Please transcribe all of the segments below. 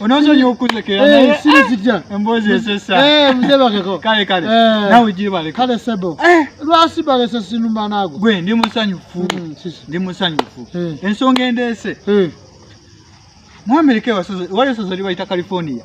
onozonya okuzekera naye eh, sirizija eh, emboozi eh, esesa mzee bakeko kale kale nawe ujibale kale sebo lwasi balese sinumba nago gwe ndi musanyufu hmm, ndi musanyufu ensonga endeese mu amerika wali osazali bayita california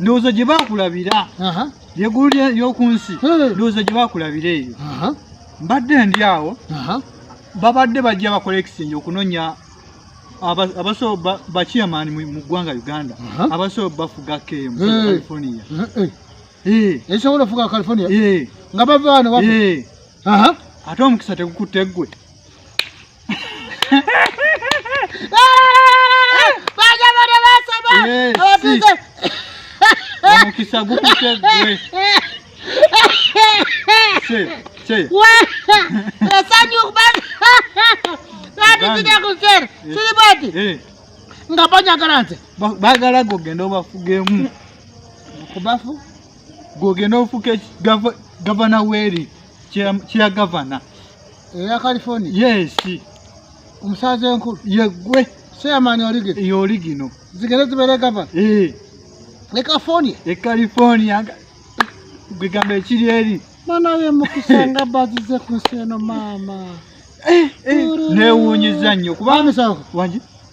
ndowooza gye bakulabira yeggulu ly'oku nsi ndowooza gye bakulabira eyo mbadde ndi awo babadde bajja bakola ekisinja okunonya abaso bachairman mu ggwanga uganda abaso bafuga kemu california ekisobola ofuga california nga bavaano ate omukisa tegukutte ggwe omukisa gukute gwe esanyu batitidakuzera kiri bati nga banyagala nze bagala gogenda obafugemu kubafu gogenda ofuke gavana weri kyeya gavana eya california yes omusaaza enkulu yegwe seyamaani olige yoligino zigere zibeere gava eh. e california e california gwegamba ekiri eri manaye mukisa nga bazize ku nsi eno maama eh, eh. newunyiza nnyo kubamisango wangi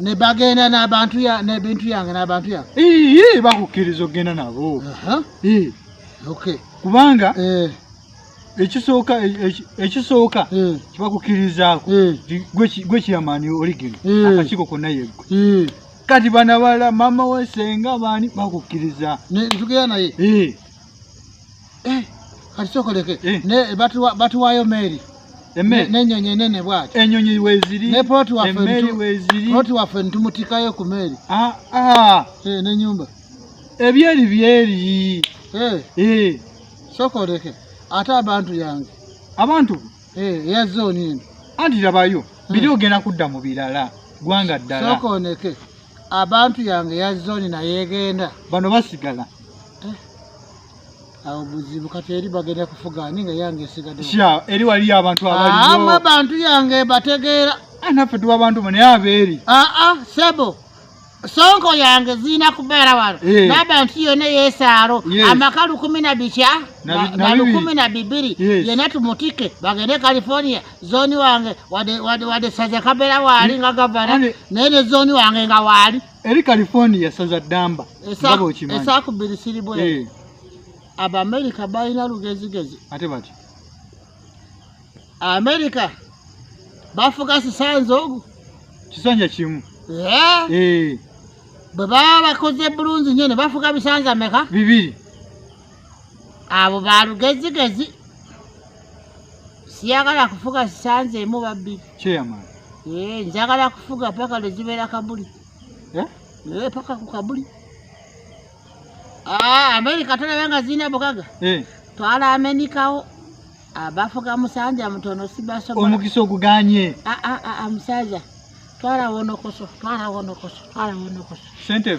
ne bagenda n'abantu n'ebintu yange n'abantu yange ii bakukkiriza okugenda nabo kubanga eh. ekisooka e, e, ekisooka eh. kibakukkirizaako eh. gwe kiyamaani oligino akakiiko konna yeggwe kati bana bala mama wesenga bani bakukkiriza tugera naye Eh, kati sokoleke Eh. ne batuwa- batuwaayo meeri emmere n'ennyonyi enene bwati enyonyi weziri ne ploti waffe emmere ntu- weziri ploti waffe ntumutikayo ku meeri Ah, ah, Eh, n'ennyumba ebyeri byeri Eh, Eh, sokoleke ate abantu yange abantu Eh, eya zooni eno anti labayo biri ogenda kudda mu birala gwanga ddala sokoneke abantu yange ya zooni naye egenda bano basigala awo buzibu kati eri bagenda kufuga ani nga yange esigadde sha eri waliyo abantu abaliyo ama abantu yange bategeera ah, naffe tuba abantu mwe naye abeeri aa ah, ah, sebo sonko yange ziina kubeera wano eh. n'abantu yona yesaalo amaka lukumi na bikya na lukumi na bibiri yena tumutike bagende california zoni wange wade saza kabeera waali nga gavana naye ne zoni wange nga waali eri california saza damba esakubiri siribwe eh. abamerica balina lugezigezi ate bati america bafuka sisanza ogu kisanja kimu eh. Eh. bwe baba bakoze bulungi nyo ne bafuka bisanza meka bibiri abo balugezigezi siyagala kufuga sisanze emu babbi eh, njagala kufuga paka lwezibeera kabuli eh? Eh, paka ku kabuli ah, amerika tolaba nga zirina bugaga twala amenikawo abafuga ah, musanja mutono sibasobola omukisa oguganye ah, musajja twala wonokoso twala wonokoso twala wonokoso sente